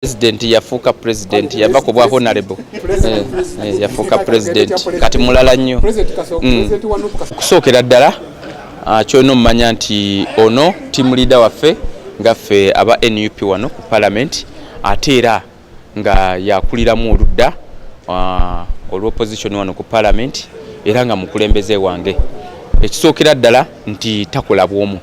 president yafuuka president yava ku bwa honorable eh, eh, yafuuka president kati mulala nnyo mm. okusookera ddala ah, kyolina omumanya nti ono team leader waffe nga ffe aba nup wano ku parliament ate era nga yakuliramu oludda ah, olwopposition wano ku parliament era nga mukulembeze wange ekisookera ddala nti takola bwomu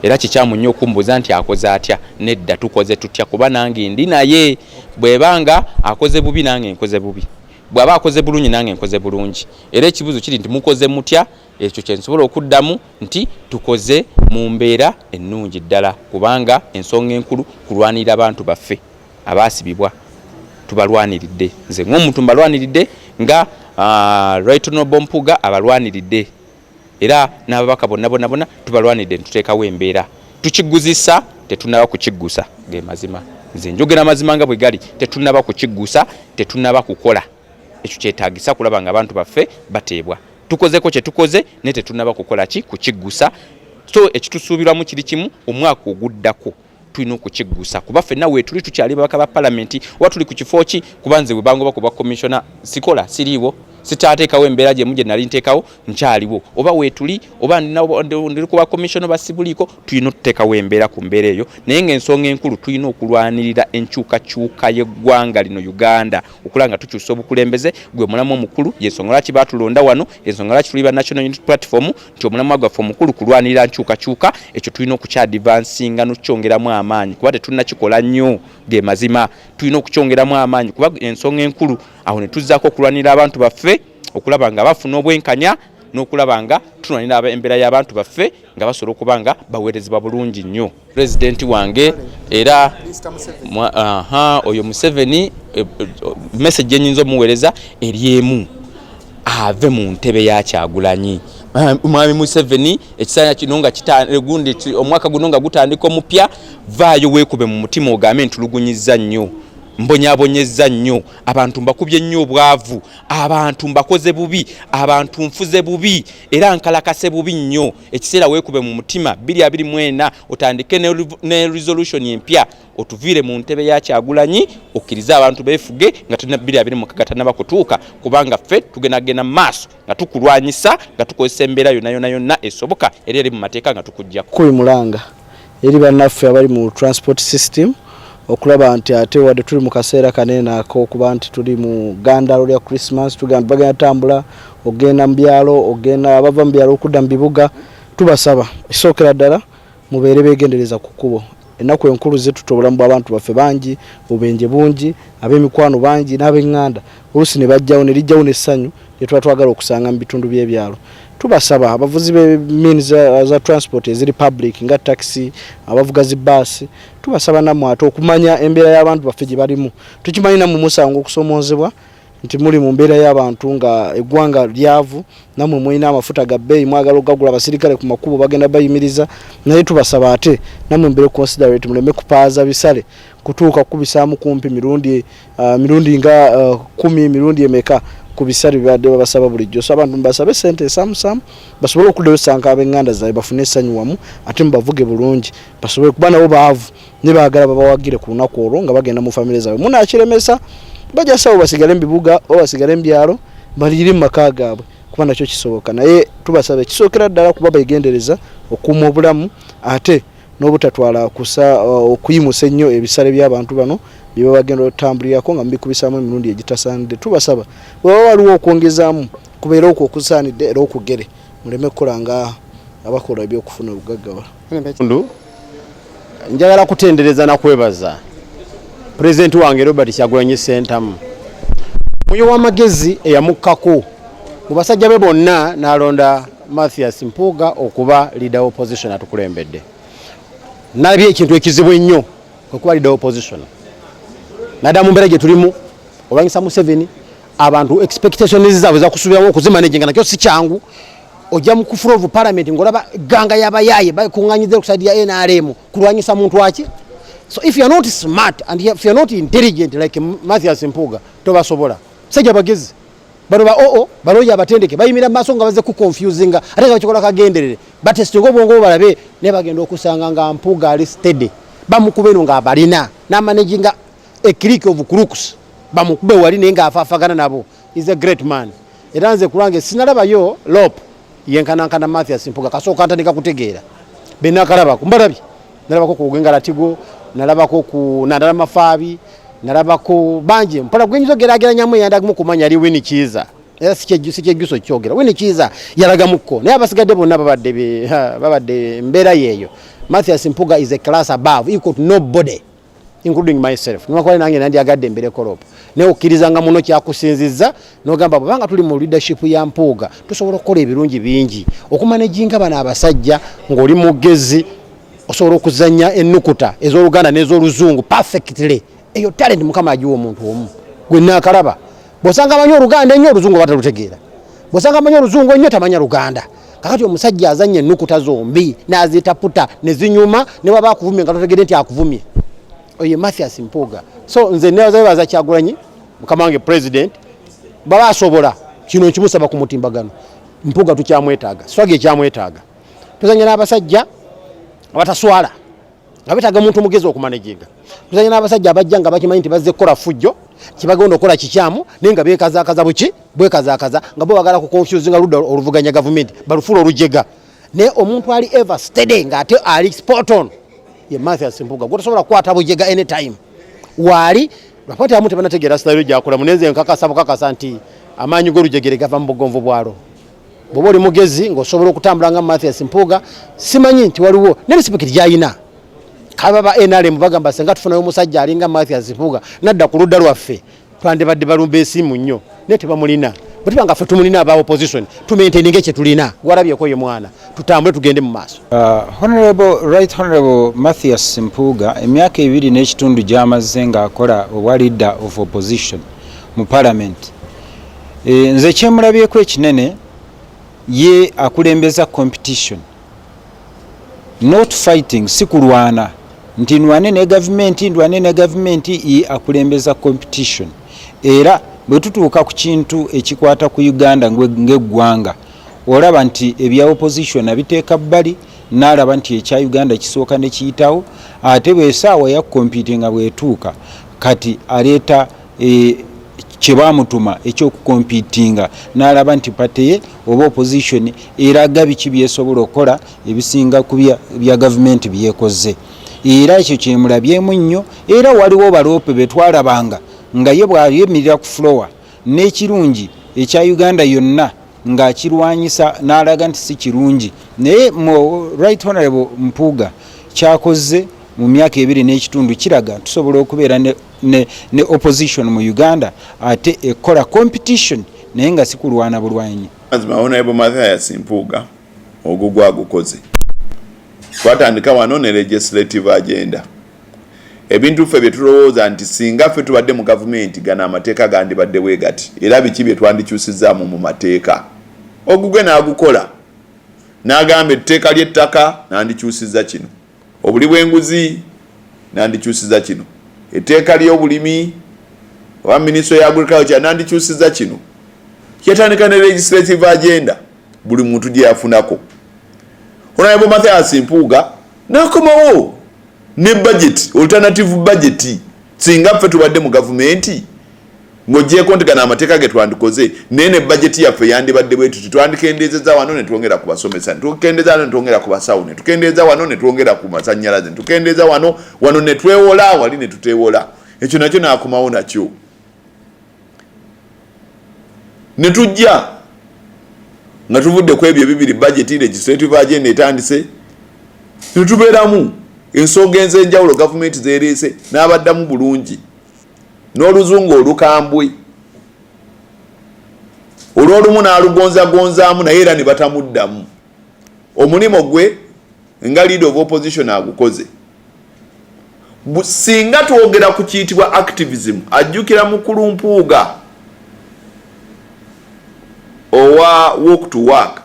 era kikyamu nnyo okumbuuza nti akoze atya nedda tukoze tutya kuba nange ndi naye bweba nga akoze bubi nange nkoze bubi bwaba akoze bulungi nange nkoze bulungi era ekibuzo kiri nti mukoze mutya ekyo kyensobola okuddamu nti tukoze mu mbeera ennungi ddala kubanga ensonga enkulu kulwanirira abantu baffe abaasibibwa tubalwaniridde nze ngaomuntu mbalwaniridde nga uh, ah, rightonobompuga abalwaniridde era n'ababaka bonna bonna bonna tubalwanidde netuteekawo embeera tukiguzisa tetunaba kukiggusa ge mazima nze njogera amazima nga bwe gali tetunaba kukiggusa tetunaba kukola ekyo kyetagisa kulaba nga abantu baffe bateebwa tukozeko kyetukoze naye tetunaba kukola ki kukiggusa so ekitusuubirwamu kiri kimu omwaka oguddako tulina okukiggusa kuba fenna weetuli tukyali babaka ba palamenti oba tuli ku kifo ki kuba nze webangoba ku bwa komishona sikola siriiwo sitaateekawo embeera gyemu gye nali nteekawo nkyaliwo oba weetuli oba ndi ku bakomishona ba sibuliiko tulina okuteekawo embeera ku mbeera eyo naye ng'ensonga enkulu tulina okulwanirira enkyukakyuka y'eggwanga lino uganda okulaba nga tukyusa obukulembeze gwe mulamu omukulu yensonga lwaki baatulonda wano yensonga lwaki tuli ba national unit platform nti omulamwa gwaffe omukulu kulwanirira nkyukakyuka ekyo tulina okukyadivansinga nokukyongeramu amaanyi kuba tetulina kikola nnyo ge mazima tulina okukyongeramu amaanyi kuba ensonga enkulu awo ne tuzzaako okulwanirira abantu baffe okulaba nga bafuna obwenkanya n'okulaba nga tulwanira embeera y'abantu baffe nga basobola okuba nga baweerezebwa bulungi nnyo pulezidenti wange era oyo museveni eh, eh, message gyenyinza omuweereza eri emu ave mu ntebe ya kyagulanyi eh, mwami museveni ekisaanya kino nga gundi omwaka guno nga gutandika omupya vaayo weekube mu mutima ogambe ntulugunyizza nnyo mbonyabonyezza nnyo abantu mbakubye nnyo obwavu abantu mbakoze bubi abantu nfuze bubi era nkalakase bubi nnyo ekiseera weekube mu mutima 224 otandike ne resolution empya otuviire mu ntebe ya kyagulanyi okkirize abantu beefuge nga tulina 224 tanaba kutuuka kubanga ffe tugendagenda mu maaso nga tukulwanyisa nga tukozesa embeera yonna yonna yonna esoboka era eri mu mateeka nga tukugjako eri bannaffe abali mu transport system okulaba nti ate wadde tuli mu kaseera kanene akokuba nti tuli mu gandalo lya christmas tugamba bagenda tambula okugenda mu byalo okugenda abava mu byalo okudda mu bibuga tubasaba ekisookera ddala mubeere beegendereza ku kkubo ennaku enkulu zituta obulamu bw'abantu baffe bangi obubenje bungi ab'emikwano bangi n'abenganda oluusi ne bajjawo ne lijjawo n'essanyu lye tuba twagala okusanga mu bitundu by'ebyalo tubasaba abavuzi b'emini za transport eziri public nga taxi abavuga zi baasi tubasaba nammwe ate okumanya embeera y'abantu baffe gye balimu tukimanyi nammwe musango okusomoozebwa nti muli mu mbeera y'abantu nga eggwanga lyavu namwe mulina amafuta ga bbeeyi mwagala okugagula abasirikale ku makubo bagenda bayimiriza naye tubasaba ate namwe mbere considerate muleme kupaaza bisale kutuuka kukubisaamu kumpi mirundi uh, mirundi nga uh, kumi mirundi emeka ku bisale bibadde babasaba bulijjo so abantu mubasabe sente esamusamu basobole okuddayo sanka abenganda zaabwe bafune essanyu wamu ate mubavuge bulungi basobole kuba nabo baavu ne baagala babawagire ku lunaku olwo nga bagenda mu famire zaabwe munaakiremesa bajasawo basigale mu bibuga oba basigale mu byalo baliyire mu maka gaabwe kuba nakyo kisoboka naye tubasaba ekisookera ddala kuba begendereza okuuma obulamu ate n'obutatwala kusa okuyimusa ennyo ebisale by'abantu bano bye baba bagenda otambulirako nga mubikubisaamu emirundi egitasaanidde tubasaba weba waliwo okwongezaamu kubeera okwo okusaanidde era okugere muleme kukola nga abakola ebyokufuna obugaggawala njagala kutendereza nakwebaza pulezidenti wange robert kyagulanyi sentamu oyo w'amagezi eyamukkako mu basajja be bonna n'alonda Mathias Mpuuga okuba leader opposition atukulembedde nalabye ekintu ekizibu ennyo okuba leader opposition naddala mu mbeera gye tulimu olwanyisa Museveni abantu expectations zaabwe zakusuubiramu okuzimanaginga nakyo si kyangu ojja mu kufula ovu palamenti ng'olaba egganga y'abayaaye bakunganyiza okusaidi ya nrm kulwanyisa muntu aki so if you're not smart and if you're not intelligent like Mathias Mpuuga tobasobola sajja bagezi bano ba oo baloya abatendeke bayimira mu maaso nga baze kuconfusinga ate nga bakikola kagenderere batesitinga obwongo bwo balabe naye bagenda okusanga nga mpuga ali stede bamukuba eno nga abalina namanaginga ecrik of crooks bamukube wali naye nga afafagana nabo is a great man era nze kulwange sinalabayo lope yenkanankana Mathias Mpuga kasooka ntandika kutegeera be nakalabako mbalabye nalabako ku Ugenga Latigo nalabako ku Nandala Mafaabi nalabako bangi mpola gwenyizo gerageranyamu eyandagimu kumanya ali Winnie Kiiza era sikyejjuso kyogera Winnie Kiiza yalagamuko naye abasigadde bonna babadde babadde mbeera yeeyo Mathias Mpuga is a class above equal to nobody including myself nwakwale nange nandyagadde embere korop naye okkirizanga muno kyakusinzizza nogamba bwebanga tuli mu leadership ya mpuuga tusobola okukola ebirungi bingi okumanejinga bano abasajja ng'oli mugezi osobola okuzanya ennukuta ez'oluganda n'ez'oluzungu perfectly eyo talenti mukama agiwa omuntu omu gwe naakalaba bwosanga amanyi oluganda ennyo oluzungu oba talutegeera bwosanga amanyi oluzungu ennyo tamanya luganda kakati omusajja azanya enukuta zombi nazitaputa nezinyuma newaba akuvumye nga totegede nti akuvumye oye mathias mpuuga so nze nebazabebaza kyagulanyi mukama wange president baba asobola kino nkimusaba ku mutimbagano mpuuga tukyamwetaaga swaga ekyamwetaaga tuzanya n'abasajja abataswala nga betaaga muntu mugezi okumaneginga tuzanya n'abasajja abajja nga bakimanyi nti bazze kukola fujjo kyebagenda okukola kikyamu naye nga bekazakaza buki bwekazakaza nga bo bagala ku confuse nga ludda oluvuganya gavumenti balufuula olujega naye omuntu ali ever steady nga ate ali sporton ye mathias mpuga gwetosobola kukwata bujega anytime waali lwakwati amu tebanategeera sitayiro gyakolamu nenze nkakasa bukakasa nti amaanyi g'olujegere gava mu bugonvu bwalo bwoba oli mugezi ngaosobola okutambula nga mathias mpuuga simanyi nti waliwo nerisipikiti gyalina kaba ba nrm bagamba senga tufunayo omusajja alinga mathias mpuuga nadda ku ludda lwaffe twandibadde balumba esimu nnyo naye tebamulina bwetuba nga ffe tumulina aba opposition tumenteninge kyetulina gwalabyeko ye mwana tutambule tugende mu maaso uh, honorable right honorable mathias mpuuga emyaka ebiri n'ekitundu gyamazze ng'akola obwa leader of opposition mu parliament Eh, nze kyemulabyeko ekinene ye akulembeza competition not fighting si kulwana nti nwane ne gavumenti ndwane ne gavumenti ye akulembeza competition era bwe tutuuka ku kintu ekikwata ku uganda ng'eggwanga olaba nti ebya opposition abiteeka bbali naalaba nti ekya uganda kisooka ne kiyitawo ate bwesaawa ya kompitinga bwetuuka kati aleeta e, kye baamutuma ekyokukompitinga n'alaba nti pate ye oba opposition eraga biki byesobola okukola ebisinga ku bya gavumenti byekoze era ekyo kyemulabyemu nnyo era waliwo baloope betwalabanga nga ye bwayemirira ku flowa n'ekirungi ekya uganda yonna ng'akirwanyisa n'alaga nti si kirungi naye mu right honorable mpuuga kyakoze mu myaka ebiri n'ekitundu kiraga tusobola okubeera ne, ne opposition mu uganda ate ekola competition naye nga sikulwana bulwanyi mazima honorable mathias mpuuga ogugwa gukoze twatandika wano ne legislative agenda ebintu ffe byetulowooza nti singa ffe tubadde mu gavumenti gano amateeka gandibadde bwe gati era biki bye twandikyusizaamu mu mateeka ogugwe n'agukola n'agamba etteeka ly'ettaka nandikyusiza kino Obuli bw'enguzi nandikyusiza kino. Etteeka ly'obulimi oba ministry ya agriculture nandikyusiza kino. Yatandika ne legislative agenda buli muntu gye yafunako. Honorable Mathias Mpuuga nakomawo ne budget, alternative budget singa ffe tubadde mu gavumenti. Ng'oggyeeko nti gano amateeka ge twandikoze naye ne bajeti yaffe yandibadde bwe tuti, twandikendeezezza wano ne twongera ku basomesa, ne tukendeeza wano ne twongera ku basawo, ne tukendeeza wano ne twongera ku masannyalaze, ne tukendeeza wano, wano ne twewola, wali ne tuteewola. Ekyo nakyo n'akomawo nakyo. Ne tujja nga tuvudde ku ebyo ebibiri bajeti legislative agenda etandise ne tubeeramu ensonga enzenjawulo gavumenti zereese n'abaddamu bulungi n'oluzungu olukambwe olw'olumu n'alugonzagonzaamu naye era ne batamuddamu omulimu gwe nga leader of opposition agukoze singa twogera ku kiyitibwa activism ajjukira mukulu mpuuga owa walk to work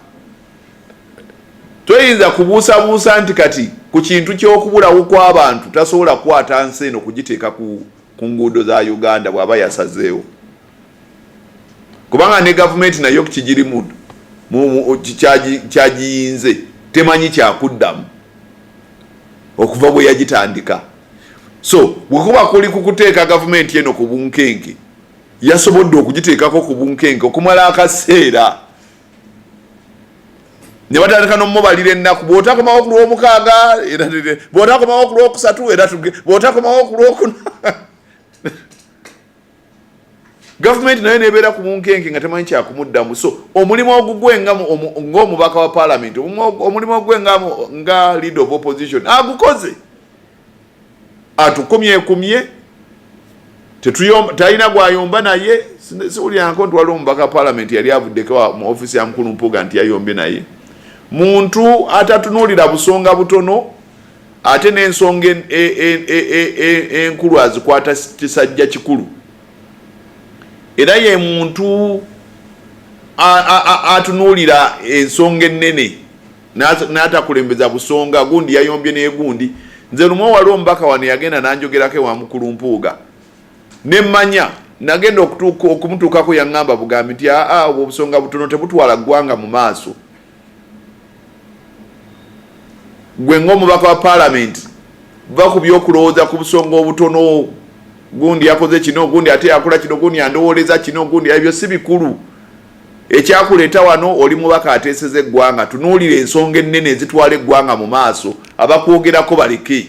Toyinza kubuusabuusa nti kati ku kintu ky'okubulawo kw'abantu tasobola kukwata nsi eno kugiteeka ku nguudo za Uganda bw'aba yasazeewo, kubanga ne gavumenti nayo kigirimu kyagiyinze temanyi kyakuddamu okuva bwe yagitandika. So bwe kuba kuli ku kuteeka gavumenti eno ku bunkenke, yasobodde okugiteekako ku bunkenke okumala akaseera. ne batandika n'omubalira ennaku bw'otakomawo ku lw'omukaaga era bw'otakomawo ku lw'okusatu era bw'otakomawo ku lw'okuna gavumenti nayo nebeera ku bunkenke nga temanyi kyakumuddamu so omulimu ogugwe ngaomubaka wa palamenti omulimu ogugwe nga lead of opposition agukoze atukumyekumye talina gwayomba naye siwulyanko nti waliwo omubaka palamenti yali avuddeko mu ofisi ya mukulu mpuga nti yayombye naye muntu atatunuulira busonga butono ate n'ensonga enkulu e, e, e, azikwata kisajja kikulu era ye muntu atunuulira ensonga ennene natakulembeza busonga gundi yayombye negundi nze lumu wali omubaka wano yagenda nanjogerako ewa mukulu mpuuga nemanya nagenda okumutuukako yaŋŋamba bugambi nti aa obwo obusonga butono tebutwala ggwanga mu maaso gwe ngaomubaka wa palamenti va ku byokulowooza ku busonga obutono gundi yakoze kino gundi ate yakola kino gundi yandowooleza kino gundi ebyo si bikulu Ekyakuleeta wano oli mubaka ateeseza eggwanga, tunuulira ensonga ennene ezitwala eggwanga mu maaso. Abakwogerako baleke,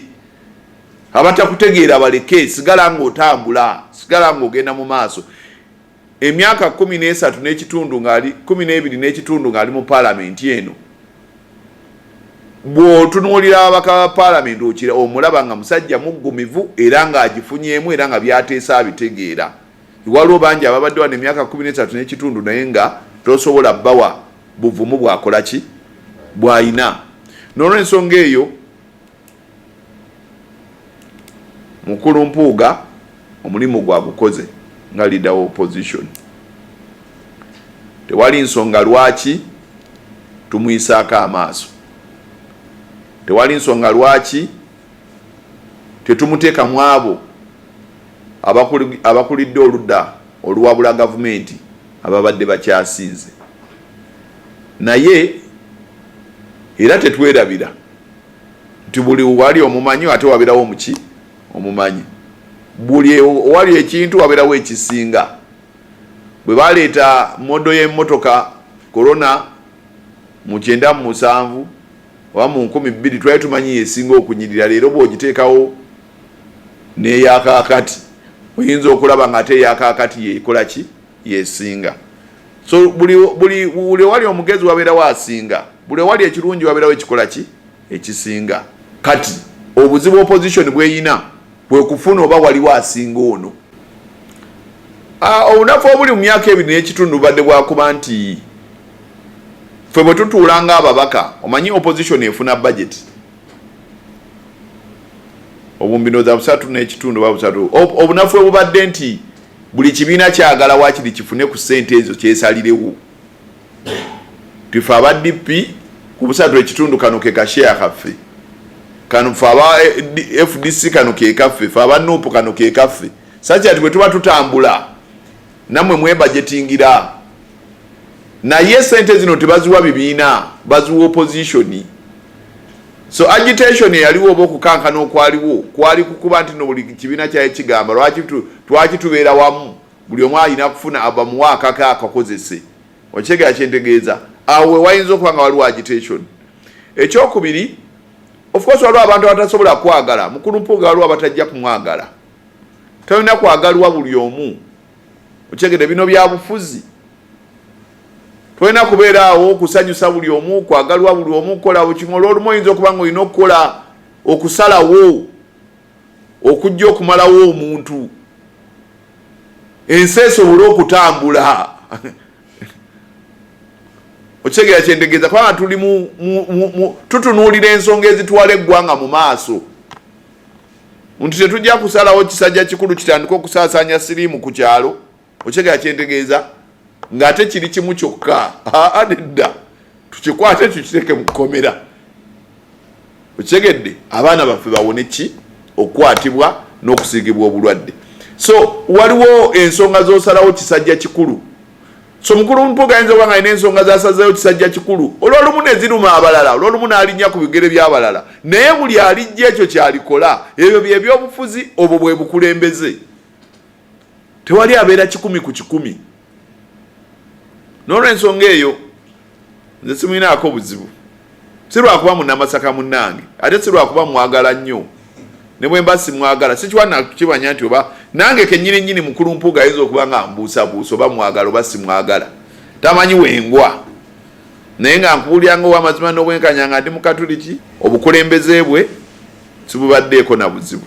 abatakutegeera baleke, sigala ng'otambula, sigala ng'ogenda mu maaso. Emyaka kkumi n'esatu n'ekitundu ng'ali kkumi n'ebiri n'ekitundu ng'ali mu paalamenti eno, bw'otunuulira ababaka ba paalamenti okira omulaba nga musajja muggumivu era ng'agifunyeemu era nga by'ateesa abitegeera. Waliwo bangi ababadde wano emyaka kumi n'esatu n'ekitundu naye nga tosobola bawa buvumu bwakola ki bw'alina. N'olwensonga eyo Mukulu Mpuuga omulimu gwagukoze nga leader wa opposition. Tewali nsonga lwaki tumwisaako amaaso. Tewali nsonga lwaki tetumuteeka mu abo abakulidde oludda oluwabula gavumenti ababadde bakyasinze naye era tetwerabira nti buli wali omumanyi ate waberawo muki omumanyi buli owali ekintu waberawo ekisinga bwe baleeta modo y'emmotoka korona mu kyenda mu musanvu oba mu nkumi bbiri twali tumanyi yesinga okunyirira leero bwogiteekawo neyakakati oyinza okulaba nga ate eyakakati yekola ki yesinga so buli owali omugezi wabeerawo asinga buli owali ekirungi wabeerawo ekikola ki ekisinga kati obuzibu opposition bweyina kwe kufuna oba waliwo asinga ono. Ah, obunafu obuli mu myaka ebiri n'ekitundu bubadde bwakuba nti ffe bwe tutuula ng'ababaka omanyi opposition efuna budget obumbino za busatu n'ekitundu oba busatu obunafu obubadde nti buli kibiina kyagala wakiri kifune ku ssente ezo kyesalirewo tufe aba DP kubusatu ekitundu kano ke kasheya kaffe kano fe aba eh, FDC kano ke kaffe fe aba nupu kano ke kaffe sachi ati bwetuba tutambula namwe mwebajetingira naye sente zino tebaziwa bibiina baziwa opposition so agitation eyaliwo oba okukankana okwaliwo kwali kukuba nti no buli kibiina kyaye kigamba lwaki twaki tubeera wamu buli omu alina kufuna abamuwa akake akakozese okitegera kyentegeeza awo wewayinza okuba nga waliwo agitation ekyokubiri ofcourse waliwo abantu abatasobola kwagala mukulu mpuuga waliwo abatajja kumwagala tolina kwagalwa buli omu okitegede bino byabufuzi tolina kubeera awo okusanyusa buli omu kwagalwa buli omu kukola bukimu olwolumu oyinza okuba nga olina okukola okusalawo okujja okumalawo omuntu ensi esobole okutambula okitegeera kyentegeeza kubanga tuli tutunuulira ensonga ezitwala eggwanga mu maaso nti tetujja kusalawo kisajja kikulu kitandika okusaasaanya siriimu ku kyalo okitegera kyentegeeza ng'ate kiri kimu kyokka aa nedda tukikwate tukiteeke mu kkomera okitegedde abaana baffe bawone ki okukwatibwa n'okusiigibwa obulwadde so waliwo ensonga z'osalawo kisajja kikulu so mukulu mpuga ayinza okuba nga alina ensonga zasazeyo kisajja kikulu olwolumu neziruma abalala olwolumu n'alinnya ku bigere by'abalala naye buli alijja ekyo kyalikola ebyo byebyobufuzi obwo bwe bukulembeze tewali abeera kikumi ku kikumi nolwensonga eyo nze simulinaako buzibu si lwakuba munamasaka munange ate si lwakuba mwagala nnyo ne bwe mba simwagala sikiwa nakukimanya nti oba nange kenyini nyini mukulu mpuuga ayinza okuba nga mbuusabuusa oba mwagala oba simwagala tamanyi wengwa naye nga nkubulira nga owamazima n'obwenkanya nga ndi mukatuliki obukulembeze bwe sibubaddeeko na buzibu